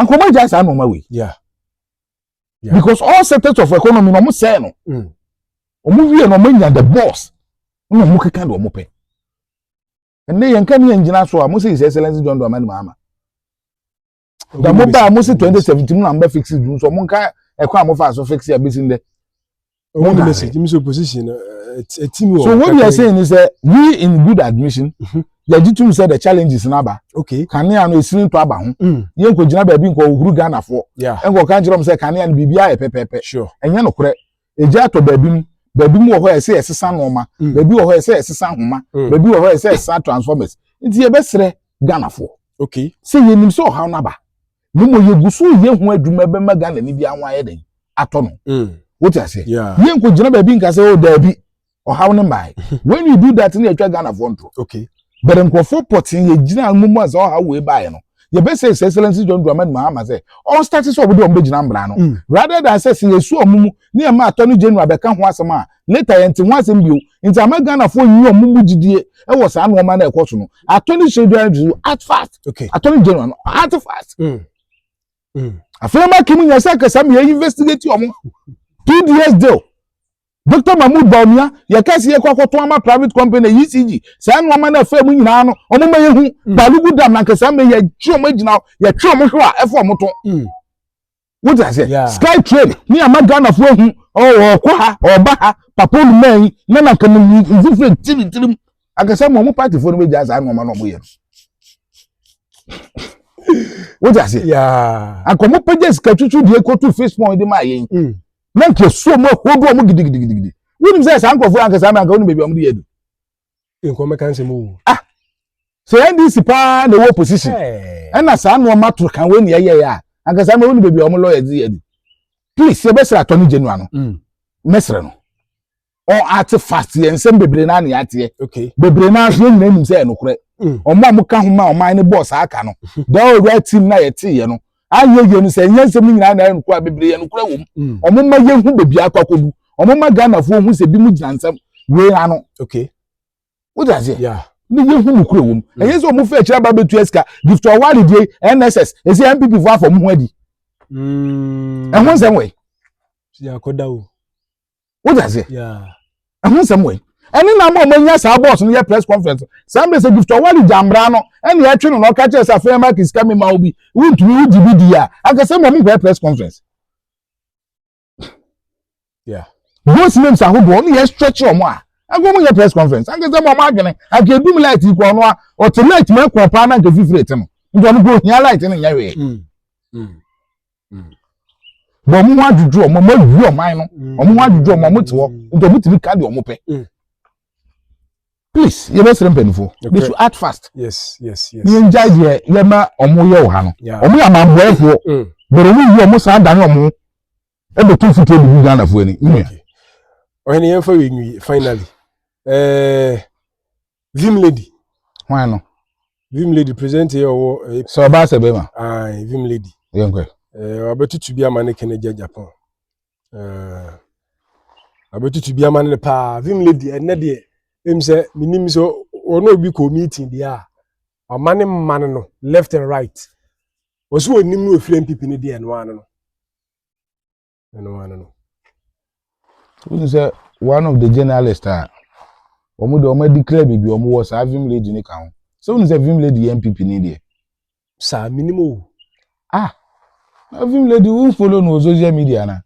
ankɔmɔ agya saa nɔɔma wei because all sectors of economy na wɔn sɛɛ no wɔn wie na wɔn nya the boss na wɔn keka de wɔn pɛ ɛnna yɛn nka ne yɛn gyina so a mo sɛ his excellence john dramani mahama. na mo ba mo si twenty seventeen mu na mo bɛ fix it nso mo nka ɛkwan a mo fa so fix it abesi ndɛ. ɔmo na message mi so position na ɛti mi wɔ. so what you are saying is that we in good admission mhm. yɛgye tum sɛ the challenges na aba okay kanea no esiri ntɔ aba ho mm. yɛn nkɔ gyina baabi nkɔ ohuru ghana foɔ nkɔ kan kyerɛ mo sɛ kanea no biribi ayɛ pɛpɛpɛ sure ɛnyɛ no korɛ Egya atɔ baabi mu. Baabi mu wɔ hɔ a ɛsɛ ɛsesa nneɛma. Mm. Baabi wɔ hɔ a ɛsɛ ɛsesa nhoma. Mm. Baabi wɔ hɔ a ɛsɛ ɛsesa transformers. Nti yɛbɛsrɛ Ghanafoɔ. Okay. Sɛ yɛnim sɛ ɔhaw no aba. Mmom yɛgu so yɛ ho adwuma bɛma Ghana ni biara ho ayɛ den atɔ no. Mm. Wote aseɛ? Yeah. Yɛnkɔgyina baabi nka sɛ o oh, daabi. ɔhaw no mmae when you do that no yɛtwa ghanafoɔ ntorɔ okay but nkurɔfoɔ pɔtee yɛgyina mu mu a sɛ ɔhaw wei baeɛ no yɛbɛsɛ his excellency john dramani mahama sɛ ɔnstate sɛ ɔbɛde ɔmbɛgyina mmara no mm. rather than sɛ sɛ yɛsu ɔmo mu ne ɛma attorney general bɛka ho asɛm a later yɛnte ho asɛm bio nti ama ghanafoɔ nyi ɔmo mu gyidie ɛwɔ saa nneɛma no ɛkɔ so no attorney general to act fast okay. attorney general no act fast mm. Mm. afei ma kim nyɛ sɛ kasa meyɛ investigate ɔmo two years deal Doctor Mahmood Bawumia, yɛkae sɛ yɛkɔ akɔtɔn ama private company na ECG, saa nnoɔma no a ɛfa mu nyinaa no, wɔn ma yɛhu. Mm. Balugu Dam na anka saa mmɛ yɛgye wɔn agyina hɔ, yɛtwe wɔn hwe a ɛfa wɔn to. Mm. Wote aseɛ? Yeah. Sky train ne ama Ghanafoɔ ahu, ɔwɔ ɔkɔ ha, ɔba ha, papa onuma yi, na na anka meyi mfifire ti ne tirim. Anka saa mu wɔn paatifoɔ no bɛgya saa nnoɔma no wɔn yɛ no. Wote aseɛ? Yeah. Anka wɔn pɛgya sika twitwi deɛ kɔtu Facebook de ma yɛn. Mm. na nka suo mu ahodoɔ ɔmo gidigidigidi wonim sɛ saa nkurɔfoɔ anka saa mmeranka wonim baabi ɔmo de yɛ du. nkɔn mɛka nsɛm o. ah sɛ ndc paa na ɛwɔ opposition ɛna saa nneɛma to kan wei na ɛyɛ yɛ a anka saa mmeranka wonim baabi ɔmo lɔya de yɛ du please yɛbɛsrɛ attorney general no mɛsrɛ no. ɔn ate fast yɛ nsɛm bebree naa ne ateɛ okay. bebree naa so yɛn nyinaa nim sɛ yɛ nokorɛ mm. ɔmo a mo ka ho ma ɔman ne bɔɔ saa aka no mm-hmm. the all right team na yɛ te yɛ no ayɛ yɛ no sɛ nyɛ nsɛm no nyinaa na yɛ nokorɛ bebree yɛ nokorɛ wɔm mm. ɔmo ma yɛn ho bebi akɔ akɔdu ɔmo ma Ghana fo ho sɛ bi mo gyina nsɛm wei ano okay. o ti aseɛ yeah. ne yɛ ho nokorɛ wɔm mm. ɛyɛ sɛ ɔmo fɛ akyerɛ aba betua sika gift ɔwari die NSS esi NPP fo afɔ mo ho adi ɛho nsɛm wɔ yi. wo de ase ɛho nsɛm wɔ yi ɛne na ama ɔmanya saa bɔs no yɛ press conference saa mbɛ sɛ gift ɔwale gya mbra no ɛne ɛtwe no na ɔka kyerɛ sɛ afei ɛma kisi ka mema wo bi wontumi wo gyi bi di a akasɛ mmɔ mu press conference yeah. both names ahodoɔ ne yɛ stretch ɔmo a ɛkɔ mu yɛ press conference akasɛ mmɔ ɔmo adwene aka edum light yi kɔ ɔno a ɔte light mu ɛkɔ paa na nka fifiri ɛte no nti ɔno kò hia light no nyɛ wee. Mm, mm. bɔ ɔmo ho adwudwu ɔmo ɔmo awie ɔman no mm. ɔmo ho adwudwu ɔmo ɔmo te hɔ mm. nti ɔmo tumi ka deɛ ɔmo pɛ mm. please yɛ bɛ sere mpanyinfoɔ they should act fast ne yɛn gya deɛ yɛ ma ɔmo yɛ wɔ ha no ɔmo yɛ amanbɔɛfoɔ bɛrɛ ɔmo yi ɔmo saa dan ɔmo ɛbɛ tó fiti ebi bi ghana foɔ ni nua. ɔhɛn yɛn fɛ wɛ nwi finally ɛɛ. Eh, Vim lady. Hwan no? Vim lady present yɛ ɔwɔ. Eh, sɛ ɔbaa sɛ bɛma. Ae, vim lady. Yɛ nkɔ. Eh, wabɛtutu bi ama ne kene gya Japan. Eh, wabɛtutu bi ama ne paa. Vim lady, ɛnɛ deɛ, ɛm sɛ, menim sɛ ɔne obi kɔ meeting deɛ a, ɔma ne mma no no, left and right. Ɔso ɔnim no ɛfiri mpipi no deɛ ɛno ano no. ɛno ano no wohu sɛ one of the journalist a wɔn de wɔn adi kra biribi wɔn wɔ saa vim lady ne ka ho sɛ wohu sɛ vim lady yɛ npp ni deɛ. saa minim o. ah na vim lady wo nfolo no wɔ social media na.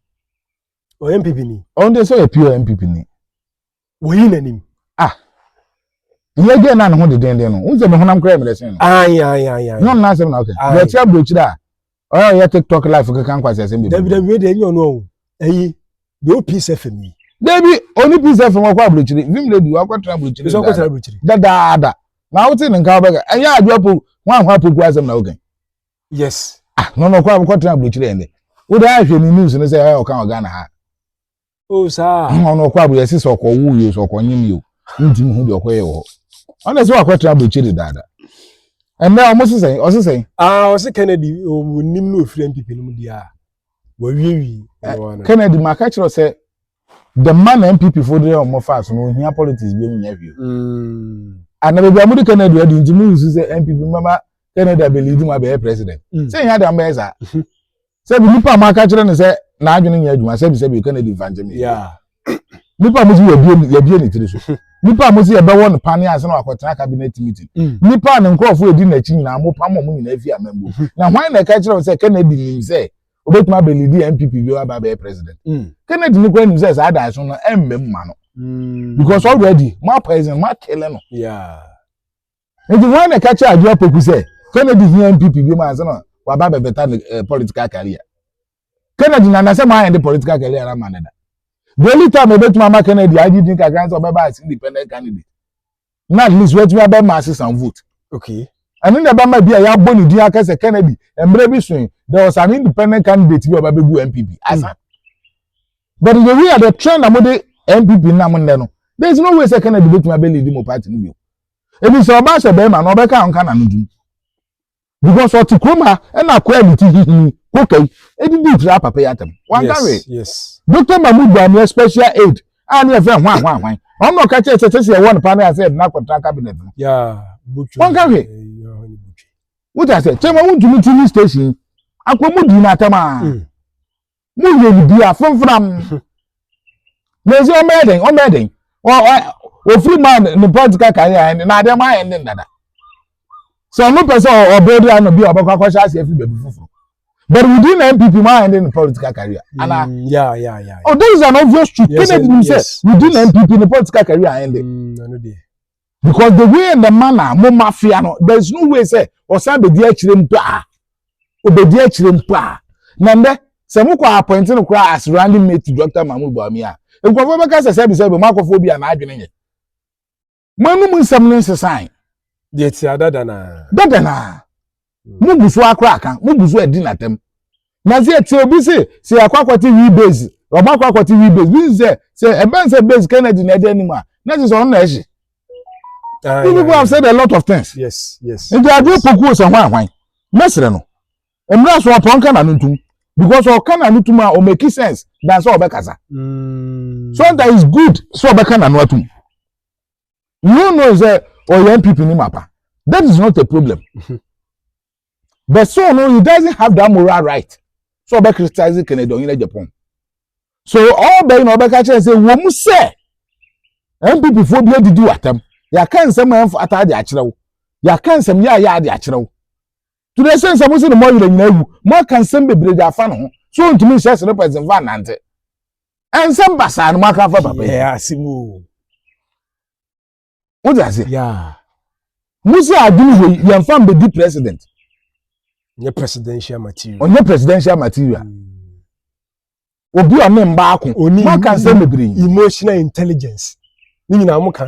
ɔyɛ npp ni. ɔn de sɛ ɔyɛ pure npp ni. Wɔyi n'anim. Ah. Yɛ gɛ na ne ho de denden no. Won sɛ me honam kra mmerɛsen no. Ayi ayi ayi ayi. Yon na asem na okay. Ayi. Yɛ tia brochire a. Ɔyɛ ɔyɛ TikTok live keka nkwa sɛ asem bi. Dabi dabi we de enyo no o. Ayi. De o peace FM yi. Dabi oni peace FM wakɔ abrochire. Vim lady wakɔ tra abrochire. Bisa wakɔ tra abrochire. Da da da. Na wote ne nka obɛka. Ɛnyɛ adwo apo. Wan ho apo ku asem na okay. Yes. Ah, no no kwa abokɔ tra abrochire ende. Wo da ahwe ni news no sɛ ɔka ɔgana ha. o saa ɔno ɔkɔ abɔ yɛsi sɛ ɔkɔ wu yio sɛ ɔkɔ nyim yio ntumi hu deɛ ɔkɔ yɛ wɔ hɔ ɔna sɛ wakɔ tena aburukyiri dada ɛnna ɔmo sesɛn ɔsesɛn. aa ɔsi kennedy ɔmo nim na ofiri npp no mu di a wɔwiewie. kennedy maka kyerɛ sɛ the man na npp fo de ɔmo fa so no ohia politics bi mu nyɛ hwee. ana baabi a mo de kennedy adi nti mo nsu sɛ npp mɛma kennedy abɛlidi mu abɛyɛ president. sɛ nyɛ adi a mo bɛyɛ saa. sɛbi nipa a maka kyerɛ no sɛ n'adwene nyɛ adwuma sɛbi sɛbi ɔka no adi mfa nkyɛn yɛ nipa a mo si yɛbie ne tiri so nipa a mo si yɛbɛwɔ no pane ase na wakɔtena cabinet meeting mm. nipa a ne nkurɔfoɔ edi n'akyi nyinaa mo pam ɔmo nyinaa fi amambuo mm-hmm. na hwan na ɛka kyerɛ wo sɛ kennedy nim sɛ obetumi abɛlidi npp bi aba abɛyɛ president mm. kennedy no kora nim sɛ saa daa so no ɛmmɛ mu ma no mm. because already mo apoison mo akele no. Yeah. Nti hwan na ɛka kyerɛ Adwoa Poku sɛ Kennedy hia NPP bi mu ansa na waba abɛbɛta ne eh, political career? Kennedy na nasɛ mo ayɛ de political career na ama ne da. The only time ɛbɛtumi ama Kennedy agye din kakra sɛ ɔbɛba as independent candidate. Na at least wɔatumi abɛ ma ase some vote. Okay. ɛno na ɛbɛma bi a yɛabɔ ne din aka sɛ Kennedy mmerɛ bi soe there was an independent candidate bi a ɔba bɛgu NPP asa. Mm. But the way the trend na mo de NPP nam nnɛ no there is no way sɛ Kennedy bɛtumi abɛ lead mo party no bio. Ebi sɛ ɔbaa sɛ bɛrima no ɔbɛka ɔnka na no din. Because ɔte kurom ha ɛna akoa ne ti hihini kokai edidi ntira apapa yi atam. Wankawe. Yes. Dr. Mahmoud Bamia special aid a ne yɛfrɛ ho ahoa ahwan. Ɔno na ɔka kyerɛ sɛ sɛ sɛ yɛwɔ no paa na yɛasɛ yɛde no akɔtra cabinet no. Yeah. Butwe. Wankawe. Wotase. Kyɛ ma wontumi ti ne station akɔ mu di no atam a. Mm. mo yɛ ne bia fomfram mesi ɔmo yɛ den ɔmo yɛ den ofiri maa ne political career ɛne na adeɛ maa ɛne dada sɛ ɔmo pɛ sɛ ɔbɛɛ di ano bi a ɔbɛkɔ akɔhyɛ ase afiri baabi foforɔ but within npp maa ɛne ne political career ana mm, yeah yeah yeah oh this is an obvious truth kennedy nim sɛ within npp ne political career ɛne. Because the way the manner mo mafia no there is no way sɛ ɔsan bɛdi akyire mpo a ɔbɛdi akyire mpo a na ndɛ sɛ mo kɔ appointing no koraa as running mate to Dr. Mahmoud Bawumia a nkurɔfoɔ bɛka sɛ sɛbi sɛbi mo akɔfo obi a n'adwene nyɛ mo anum nsɛm no nsesan. Deɛ ɛte a dada no a. Dada no a. mo gu so akora aka mo gu so adi n'atam na sɛ ɛte obi se sɛ akɔ akɔte wi base ɔmo akɔ akɔte wi base bi si sɛ sɛ ɛbɛn sɛ base kennedy na ɛdi anim a na ɛsɛ sɛ ɔno na ɛhye ah, you people have said a lot of things yes yes nti adeɛ pokuo sɛ hwan hwan mɛsrɛ no mmerɛ so ɔpɔn ka na no ntum because ɔka na no tum a ɔmaki sense dan sɛ ɔbɛkasa mm. so that is good sɛ ɔbɛka na no atum you know sɛ ɔyɛ oh, npp ni ma pa that is not a problem mhm. but so no he doesn't have that moral right so ɔbɛ criticize kennedy ɔnyina japan so ɔbɛ yi na ɔbɛka kyerɛ sɛ wɔn mu sɛ npp foɔ bi adidi wɔ atam yɛaka nsɛm a ɛmfa ata ade akyerɛ wo yɛaka nsɛm yɛ a yɛ ade akyerɛ wo to the extent sɛ mo se ne mo ayerɛ nyina awu mo aka nsɛm bebree de afa ne ho so ntumi nhyɛ sere pɛ zenfa nante ɛnsɛm basaa no mo aka afa papa yi wode ase mo sɛ adwene wei yɛmfa mbɛdi president ɔnyɛ presidential material ɔnyɛ presidential material mm. obi ɔne mma ako moaka nsɛm bebree emotional intelligence ne nyinaa moka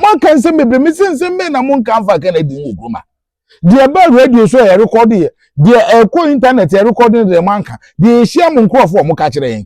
moaka nsɛm bebree mese nsɛm bɛn na monka mfa ka na adi mu okuruma deɛ ɛba radio so ɛyɛ rekɔde yɛ deɛ ɛkɔ intanɛt ɛrekɔde no deɛ moanka deɛ ɛhyia mo nkurɔfoɔ a moka kyerɛ yɛn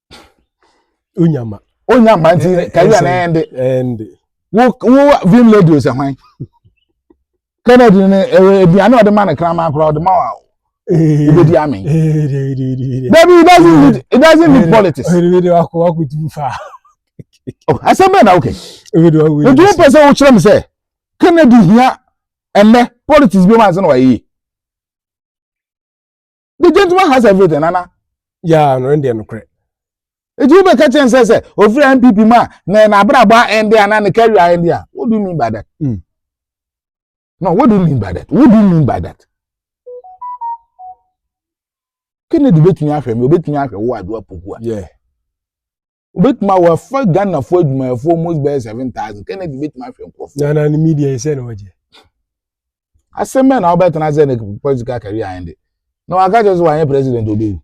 onya ma onya ma nti kari a na ɛnde ɛnde wo wo vim lady ɔsɛ hwan kennedy no aduane ɔde ma no kraman koraa ɔde ma wa obedi ame dabi it doesn't need it doesn't need politics asɛm bɛn na wokɛ nti wopɛ sɛ wokyerɛ me sɛ kennedy hia ɛnɛ politics bi ma sɛ na wayɛ yie the gentleman has everything nana. yaa no ɛndeɛ nokorɛ ɛti wobɛka kyɛn sɛ sɛ ɔfiri npp mu a na n'abrabɔ a ɛnde a na ne career a ɛnde a what do you mean by that mm. no what do you mean by that what do you mean by that kennedy bɛtumi ahwɛ me ɔbɛtumi ahwɛ wo adoa poku a yeah. wobɛtumi a wɔafa ghanafoɔ adwumayɛfoɔ mu bɛyɛ seven thousand kennedy bɛtumi ahwɛ nkurɔfoɔ na na ne media yi sɛ na ɔgye asɛm bɛn na wobɛtena sɛ ne political career ayɛ de na waka kyerɛ sɛ wanyɛ president obɛwu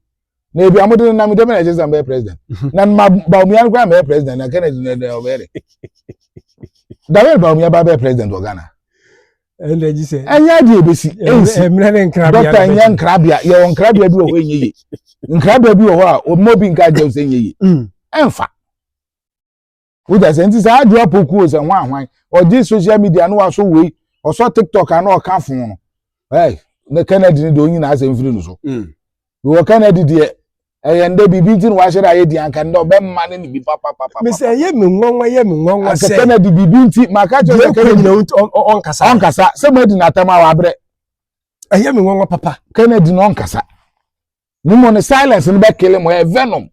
na ebi amode no nam dɛm na ɛkyɛ sɛ mbɛyɛ president na ma baomia no koraa mbɛyɛ president na kennedy na ɔbɛyɛ de dawel baomia ba bɛyɛ president wɔ ghana ɛnna gye sɛ. ɛnyɛ adi ebesi ensi ɛmuna ne nkrabea dɔkta ɛnyɛ nkrabea yɛ wɔ nkrabea bi wɔ hɔ enye ye nkrabea bi wɔ hɔ a ɔmo bi nka agye sɛ enye ye ɛnfa wogya sɛ nti saa adwoa pokuo sɛ ho ahwan ɔgye social media no waso wei ɔsɔ tiktok ano ɔka fon no ɛy ne kennedy ne deɛ onyina asɛ mfiri no so wɔ canada deɛ ɛyɛ ndɛ biribi nti na wahyɛ dɛ ayɛ di anka ndɛ ɔbɛma ne ne bi papapapa. mesɛ ɛyɛ mi nwanwa ɛyɛ mi nwanwa sɛ asɛ canada biribi nti maka kyerɛ sɛ canada nyina ɔnkasa ɔnkasa sɛ mo adi n'atam a wabrɛ ɛyɛ mi nwanwa papa canada na ɔnkasa ne mu ne silence no bɛkele mo ɛyɛ venom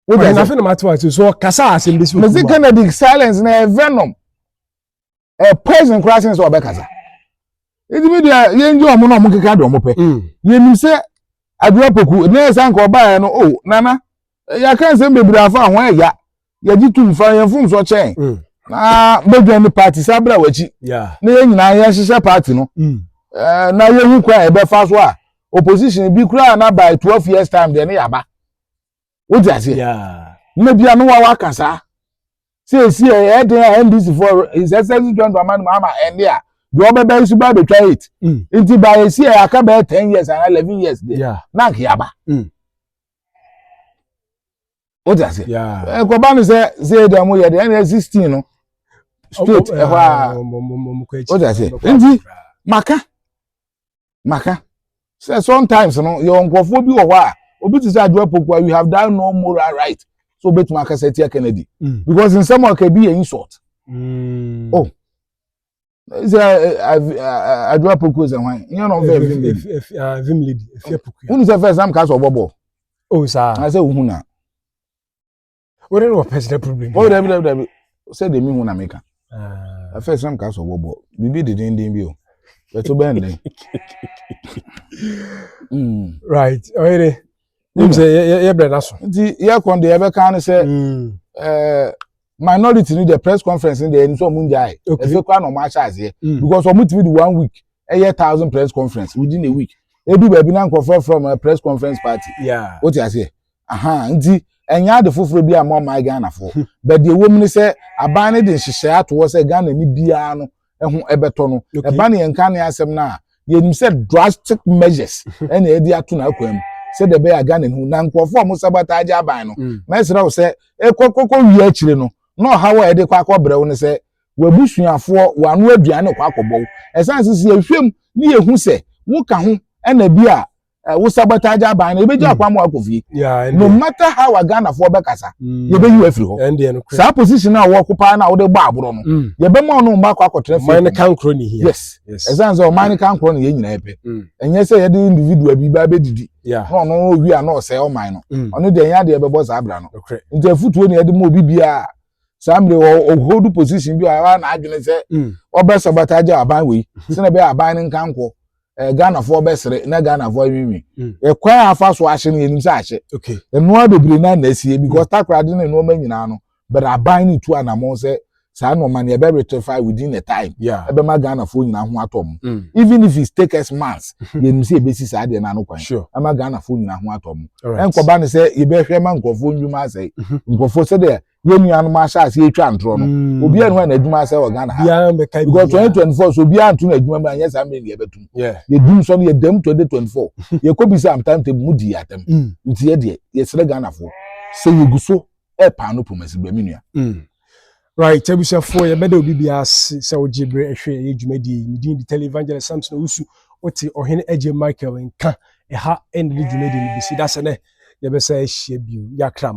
wọ́n yẹn afẹ́ na ma ti wá sí so kasa asem bẹ́sí òkú wa. mẹsì kennedy silence na ẹ venom. ɛyɛ poison koraa sen sɛ ɔbɛkasa ɛti mi deɛ yɛngye ɔmo na ɔmo keka deɛ ɔmo pɛ mm. yɛnim sɛ adwuma poku ne yɛ sɛ nka ɔbaeɛ no o oh, nana yɛaka nsɛm bebree afa ho ɛya yɛgye tum fa yɛn fom so kyɛn mm. na bɛdwa ne party saa berɛ a wakyi na yɛn nyinaa yɛhyehyɛ party no mm. eh, na yɛhu kwan a yɛbɛfa so a opposition bi koraa na by twelve years time deɛ ne yɛaba wote aseɛ nna bia no wa waka saa sɛ ɛsi ɛyɛ den a ndc for his excellency john dramani mahama ɛnde a deɛ ɔbɛbɛ yi so bɛɛ bɛtwa eight mm. nti ba ɛsi ɛyɛ aka bɛyɛ ten years anaa eleven years deɛ na nka yaba mm. wote aseɛ ɛkɔba no sɛ sɛ ɛdi ɔmo yɛ deɛ ɛna sixteen no straight ɛhɔ a wote aseɛ nti maka maka sɛ sometimes no yɛwɔ nkurɔfoɔ bi wɔ hɔ a obi te sɛ adwoa pokua you have done no moral right so obetumi akasa atia kennedy mm. because nsɛm a ɔka bi yɛ insult mm. oh sɛ adwoa pokua sɛ hwan nyɛ na ɔfɛ vim lady vim lady efia pokua wonu sɛ fɛs nam kaa sɛ ɔbɔ bɔ o saa na sɛ ohun na What are your personal problem? What are your problem? Said the moon America. I first some cast of bubble. We be the ding ding bill. But to bend it. Right. Oh, it. Nim sɛ yɛbrɛ no so nti yɛkɔn deɛ yɛbɛka ne sɛ minority ni the press conference ni deɛ ɛni sɛ ɔmo n gya yɛ ɛfɛ kora na ɔmo ahyɛ aseɛ because ɔmo tumi di one week ɛyɛ thousand press conference within a week edu baabi na nkɔfrɔfrɔ ma press conference party o ti aseɛ Ahaa nti ɛnyɛ ade foforɔ bi a ma ɔman Ghanafoɔ. Hmm. But deɛ ɛwɔ mu ne sɛ aban no de nhyehyɛe ato hɔ sɛ Ghana ni biara no ɛho ɛbɛtɔ no. Ɛba ne yɛn ka ne asɛm no a yɛnim sɛ drastic measures hmm. ɛna ɛde ato n'akwan mu sɛdeɛ ɛbɛyɛ a Ghana no na nkurɔfoɔ a wɔn sabata agye aban no. Hmm. Mɛsrɛ wo sɛ ɛkɔkɔkɔ wie akyire no na ɔhaw a ɛde kɔ akɔbrɛ wo ne sɛ w'abusuafoɔ w'ano aduane kɔ akɔbɔ wo. Ɛsan sisi ehwɛm ne yɛhu sɛ woka ho ɛna bi a eh, wo sabotage aban no yɛbɛgya akwan mm. ma wakɔ fie no matter how a ghanafoɔ bɛkasa mm. yɛbɛyi wo afiri hɔ saa position a wɔko paa no a wode bɔ aborɔ no mm. yɛbɛma ɔno mma akɔ akɔtena fie ɔman no ka nkorɔ ne hia yes ɛsiane sɛ ɔman no ka nkorɔ no yɛ nyinaa pɛ ɛnyɛ sɛ yɛde individual bi baa bɛdidi na ɔno owi a na ɔsɛe ɔman no ɔno deɛ ɛnyɛ adeɛ bɛbɔ saa bra no nti afutuo ne yɛde ma obi biara saa mmiri wɔ ɔhold position bi a wa na adwene sɛ ɔbɛ sabotage aban wei sɛnɛ bɛ aban ne nkankɔ ɛɛ ghanafoɔ bɛsere na ghanafoɔ anwinwi mm. ɛkwan a afa so ahye no yɛnim sɛ ahye nnoɔma bebree na na asie because mm. takoradi ne nnoɔma nyinaa no bɛrɛ aban ne tu anamɔn sɛ saa nnoɔma no yɛbɛ rectify within the time ɛbɛma ghanafoɔ nyinaa ho atɔ mu mm. even if it take us months mm-hmm. yɛnim sɛ yɛbɛsi saa deɛ no ano kwan ɛma ghanafoɔ nyinaa ho atɔ mu ɛnkɔba ne sɛ yɛbɛhwɛ ma nkurɔfoɔ nnwuma asɛe mm-hmm. nkurɔfoɔ sɛdeɛ yɛn nuanom asase yɛtwa ntorɔ no mm. obiara ne hɔ a n'adwuma asɛ wɔ ghana ha because twenty twenty four so obiara nto n'adwuma mu anyɛ saa mmiri ne yɛbɛtum yɛdum sɔ no yɛdam twenty twenty four yɛkɔ bi sɛ amtam tɛ mu di yɛatam mm. nti yɛ deɛ yɛsrɛ ghanafoɔ sɛ yɛgu so ɛpaa no pomasi bɛ me nua mm. right abusuafoɔ yɛbɛda obi biara ase sɛ wogye berɛ ɛhwɛ ɛyɛ dwumadie yi medin de tele evangelist samson owusu wote ɔhene agye michael nka ɛha ɛne ne dwumadie no bɛsi da sɛ nɛ yɛbɛsa ahyia bio yɛakra mo